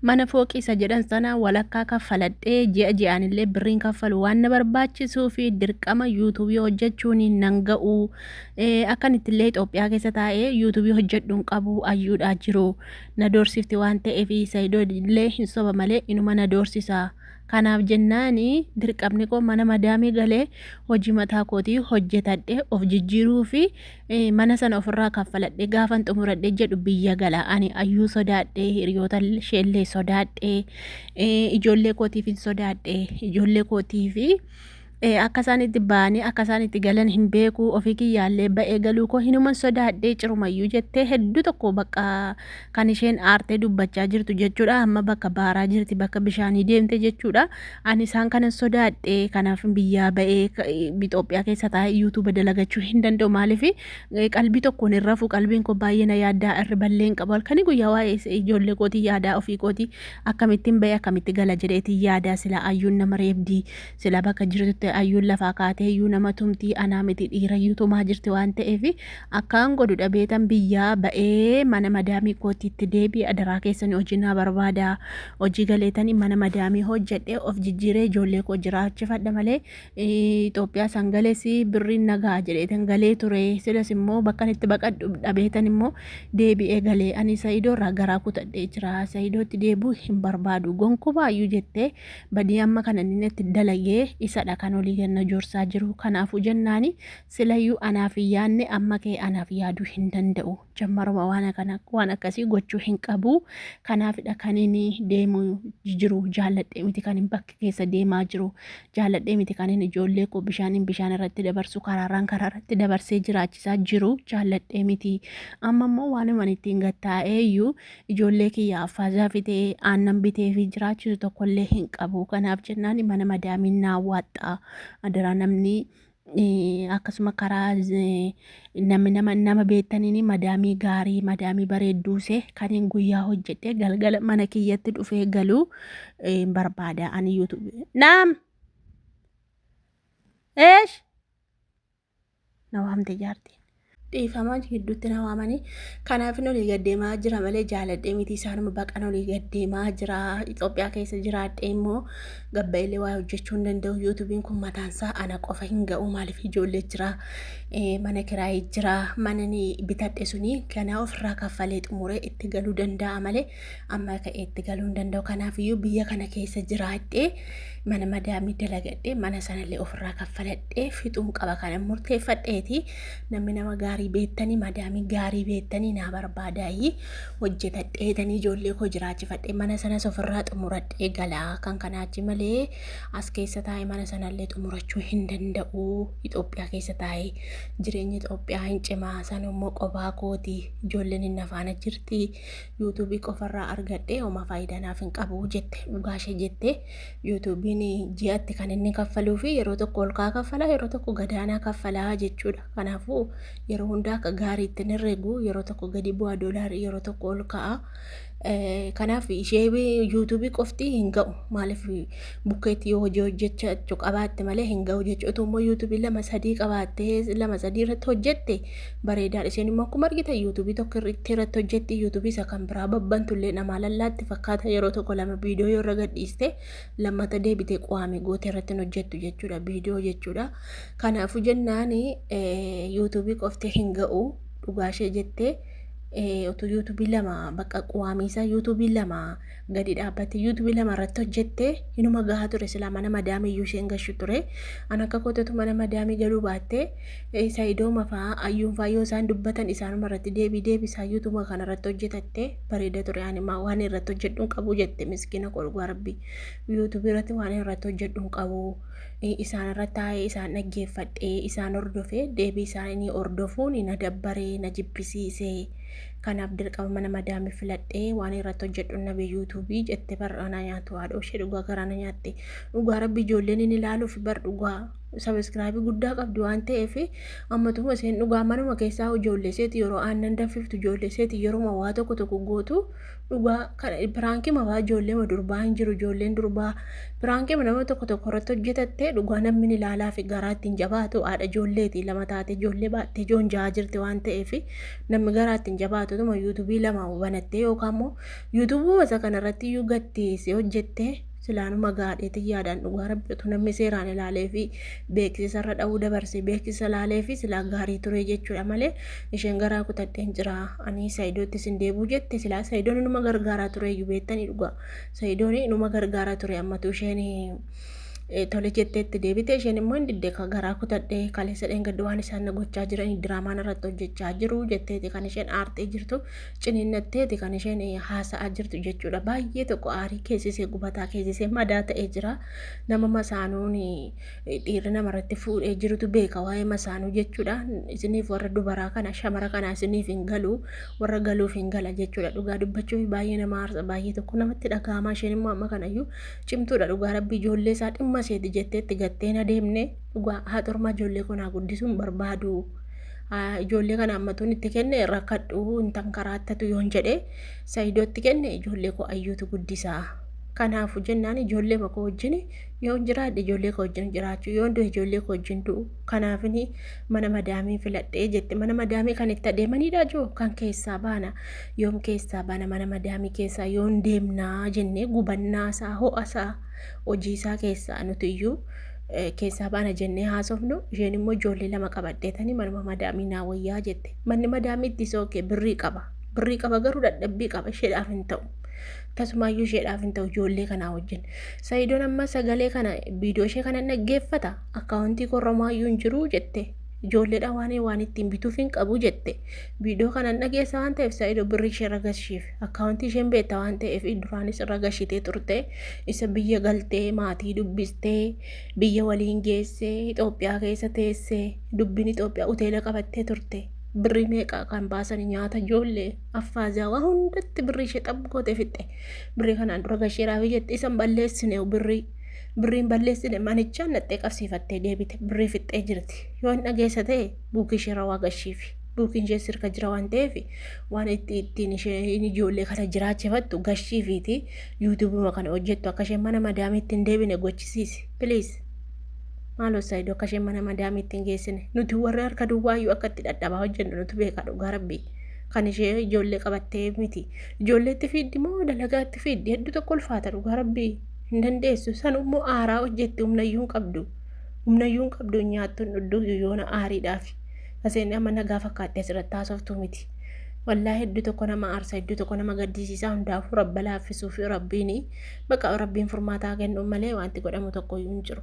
Mana fooqii isa jedhan sana walakkaa kaffaladhee ji'a ji'aanillee birriin kaffalu waan na barbaachisuufi dirqama yuutuubii hojjechuun nan ga'u. Eh, Akkan ittillee Itoophiyaa keessa taa'ee yuutuubii hojjedhu hin qabu ayyuudhaa jiru. Na doorsifti waan ta'eef Saidoo illee hin soba malee inuma na doorsisa. Kanaaf jennaan dirqamni koo mana madaamii galee hojii mataa kootii hojjetadhee of jijjiiruufi mana sana ofirraa kaffaladhe gaafan xumuradhe jedhu biyya gala ani ayyuu sodaadhe hiriyoota isheellee sodaadhe ijoollee kootiif hin sodaadhe ijoollee kootiif akka isaan itti ba'anii akka isaan itti galan hin beeku ofii kiyyaallee ba'ee galuu koo hinuman sodaadhe cirumayyuu jettee hedduu tokko bakka Kan isheen aartee dubbachaa jirtu jechuudha. Amma bakka baaraa jirti, bakka bishaanii deemte jechuudha. Ani isaan kanan sodaadhe kanaaf biyyaa ba'ee Itoophiyaa keessa taa'ee yuutuuba dalagachuu hin danda'u maaliif qalbii tokkoon hin rafu qalbiin koo baay'ee na yaaddaa irri ballee hin qabu halkanii guyyaa waa'ee ijoollee kootii yaadaa ofii kootii akkamittiin ba'ee akkamitti gala jedheetiin yaadaa silaa ayyuun nama reebdii Silaa bakka jirtutti ayyuun lafaa kaatee iyyuu nama tumtii anaa miti dhiira iyyuu tumaa jirti waan ta'eef akkaan godhu dhabeetan biyyaa ba'ee mana madaamii kootiitti deebi'e adaraa keessanii hojii naa barbaada hojii galeetanii mana madaamii hojjedhee of jijjiiree ijoollee koo jiraachifadha malee Itoophiyaa san galees birriin nagaa jedheetan galee ture silas immoo bakkan itti baqadhu dhabeetan immoo deebi'ee galee ani sa'iidoo irraa garaa kutadhee jira sa'iidootti deebuu hin barbaadu gonkumaa iyyuu jettee badii amma kana inni natti dalagee isadha kan olii ganna joorsaa jiru kanaafuu jennaani silayyuu anaaf hin yaadne amma kee anaaf yaaduu hin danda'u jammaruma waan akkana waan akkasii gochuu hin qabu kanaafidha kan inni deemu jiru jaalladhee miti kan hin bakka keessa deemaa jiru jaalladhee miti kan inni ijoollee koo bishaaniin bishaan irratti dabarsu karaaraan karaa irratti dabarsee jiraachisaa jiru jaalladhee miti amma immoo waanuma ittiin gattaa'eeyyuu ijoollee kiyyaaf faazaa fidee aannan bitee fi jiraachisu tokkollee hin qabu kanaaf jennaan mana madaamiin naa waaxxaa adaraa namni eh, akkasuma karaa eh, namni nama nama beektaniin madaamii gaarii madaamii bareedduuse kaniin guyyaa hojjedhee galgala mana kiyyatti dhufee galuu eh, hin barbaada ani yuutuubi naam eesh na waamte jaartiin. Dhiifamaa gidduutti na waamanii kanaafin olii gaddeemaa jira malee jaaladhee miti isaanuma baqan olii gaddeemaa jira Itoophiyaa keessa jiraadhee immoo gabbaillee waa hojjechuu hin danda'u yuutubiin kun mataansaa ana qofa hin ga'u maaliif ijoollee jira mana kiraayii jira manani bitadhe suni ganaa ofirraa kaffalee xumuree itti galuu danda'a malee Amma ka'eetti galuu hin danda'u. Kanaafiyyuu biyya kana keessa jiraadhee mana madaamii dalagadhee mana sanallee ofirraa kaffaladhee fixuun qaba kanan murteeffadheeti. Namni nama gaarii beektanii madaamii gaarii beektanii naa barbaadaayii hojjetadheetanii ijoollee koo jiraachifadhee mana sanas ofirraa xumuradhee galaa kan kanaachi malee as keessa taa'ee mana sanallee xumurachuu hin danda'u. Itoophiyaa keessa taa'ee jireenyi Itoophiyaa hin cimaa sanummoo qobaa kooti ijoolleen hin nafaana jirti. YouTube qofarraa argadhee homa faayidaa naaf hin qabu jette dhugaa ishee jette YouTube'n ji'atti kan inni kaffaluu fi yeroo tokko ol kaa kaffalaa yeroo tokko gadaanaa kaffalaa jechuudha kanaafuu yeroo hundaa akka gaarii ittiin herregu yeroo tokko gadi bu'aa doolaarii yeroo tokko ol ka'a kanaaf ishee YouTube qofti hin ga'u maaliif bukkeetti yoo hojii hojjechachu qabaatte malee hin ga'u jechuudha. Utuu immoo yuutuubii lama sadii qabaattee lama sadii irratti hojjette bareedaadha. Isheen immoo akkuma argitan yuutuubii tokko irratti irratti hojjetti yuutuubii isa kan biraa babbantu illee namaa lallaatti fakkaata yeroo tokko lama viidiyoo yoo irra gadhiiste lammata deebitee qo'aame goote irratti hin hojjettu jechuudha viidiyoo jechuudha. Kanaafuu jennaan yuutuubii qoftee hin ga'u dhugaa ishee jettee utuu yuutuubii lama bakka qo'aamiisaa yuutuubii lama gadi dhaabbatte yuutuubii lama irratti hojjette inuma gahaa ture silaa mana madaamii iyyuu isheen gashu ture an akka koototu mana madaamii galuu baatte isa idooma fa'aa ayyuun fa'aa yoo isaan dubbatan isaanuma irratti deebii deebisaa yuutuuma kana irratti hojjetatte bareeda ture ani maa waan irratti hojjedhu hin qabu jette miskiina koo dhugaa rabbi yuutuubii irratti waan irratti hojjedhu hin qabu isaan irra taa'ee isaan dhaggeeffadhee isaan hordofee deebii isaanii hordofuun na dabbaree na jibbisiisee Kanaaf dirqama mana madaamii filadhee waan irratti hojjedhu nabe yuutuubii jette bar anaa nyaatu haadhoo ishee dhugaa garaa na nyaatte. Dhugaa rabbi ijoolleen inni ilaaluuf bar dhugaa sabiskiraabii guddaa qabdi waan ta'eef ammatuma isheen dhugaa manuma keessaa ijoollee isheeti yeroo aannan danfiftu ijoollee isheeti yeroo waa tokko tokko gootu dhugaa kana piraankii mafaa ijoollee ma durbaa hin jiru ijoolleen durbaa piraankii nama tokko tokko irratti hojjetattee dhugaa namni ni ilaalaa fi garaa ittiin jabaatu haadha ijoolleeti lama taate ijoollee baattee ijoon jahaa jirti waan ta'eef namni garaa ittiin jabaatu tuma yuutuubii lama banattee yookaan immoo yuutuubuu isa kanarratti iyyuu gatteessee hojjettee silaanuma gaadheetiin yaadaan dhugaa rabbi utuu namni seeraan ilaalee fi beeksisa irra dha'uu dabarse beeksisa ilaalee fi silaa gaarii ture jechuudha malee isheen garaa kutadheen jira ani saayidootti sin deebuu jette silaa saayidoon inuma gargaaraa ture iyyuu beektanii dhugaa saayidoon inuma gargaaraa ture ammatu isheen tole jetteetti deebite isheen immoo hin didde garaa kutadhee kaleessa dheengaddu waan isaan na gochaa jiranii diraamaan irratti hojjechaa jiru jetteeti kan isheen aartee jirtu ciniinnatteeti kan isheen haasa'aa jirtu jechuudha. Baay'ee tokko aarii keessisee gubataa keessisee madaa ta'ee jira. Nama masaanuun dhiirri namarratti fuudhee jirutu beeka waa'ee masaanuu jechuudha. Isiniif warra dubaraa kana shamara kana isiniif hin galu warra galuuf hin gala jechuudha. Dhugaa dubbachuuf baay'ee nama aarsa baay'ee tokko namatti dhaga'ama isheen immoo amma kanayyuu cimtuudha dhugaa rabbi ijoollee isaa dhimma seeti jetteetti gattee na deemne dhugaa haa xurmaa ijoollee kun haa guddisuun barbaadu. Ah, Ijoollee kana ammatuun itti kenne rakkadhu hin tankaraattatu yoon jedhe Saidoo itti kenne ijoollee koo ayyuutu guddisaa. Kanaafu jennaan ijoollee makoo wajjin yoon jiraadhe ijoollee koo wajjin jiraachuu yoon du'e ijoollee koo wajjin du'u. Kanaafin mana madaamii filadhee jette mana madaamii kan itti adeemanidha joo kan keessaa baana. Yoom keessaa baana mana madaamii keessaa yoon deemnaa jennee gubannaa isaa ho'a isaa hojii isaa keessaa nuti iyyuu keessaa baana jennee haasofnu isheen immoo ijoollee lama qabadheetanii manuma madaamii naa wayyaa jette manni madaamiitti isa ookee birrii qaba birrii qaba garuu dadhabbii qaba isheedhaaf hin ta'u tasumaayyuu isheedhaaf hin ta'u ijoollee kanaa wajjin sayidoon amma sagalee kana viidiyoo ishee kana dhaggeeffata akkaawuntii korromaayyuu hin jiru jette ijoolleedha waan waan ittiin bituuf hin qabu jette viidiyoo kana dhageessa waan ta'eef sayidoo birrii ishee ragashiif Akkaawuntii isheen beekta waan ta'eef duraanis irra gashitee turte isa biyya galtee maatii dubbistee biyya waliin geessee Itoophiyaa keessa teessee dubbiin Itoophiyaa hoteela qabattee turte birrii meeqa kan baasanii nyaata ijoollee affaazaa waa hundatti birrii ishee xab gootee fixxe birrii kanaan dura gasheeraaf jette isan balleessine birrii birriin balleessine manichaan naxxee qabsiifattee deebite birrii fixxee jirti yoo hin dhageessa ta'e buukii isheerra waa gashiifi. Dhulkiin ishee sirka jira waan ta'eef waan itti ittiin isheen ijoollee kana jiraachifattu gashii fiiti yuutuubuma kana hojjettu akka isheen mana madaamiitti hin deebine gochisiisi. Piliis. Maaloo Saayidoo akka isheen mana madaamiitti hin geessine. Nuti warri harka duwwaayyuu akka itti dhadhabaa hojjennu nutu beeka dhugaa rabbii. Kan ishee ijoollee qabattee miti. Ijoollee itti fiiddi moo dalagaa itti fiiddi hedduu tokko ulfaata dhugaa rabbii hin dandeessu. Sanuu immoo aaraa hojjetti humnayyuu hin qabdu. Humnayyuu hin qabdu hin nyaattu hin dhuddu yoona aariidhaafi. Aseen amma nagaa fakkaattee asirratti haasoftuu miti. Wallaahi hedduu tokko nama aarsa hedduu tokko nama gaddisiisaa hundaafuu rabba laaffisuu fi rabbiin baqa rabbiin furmaataa kennu malee wanti godhamu tokko hin jiru.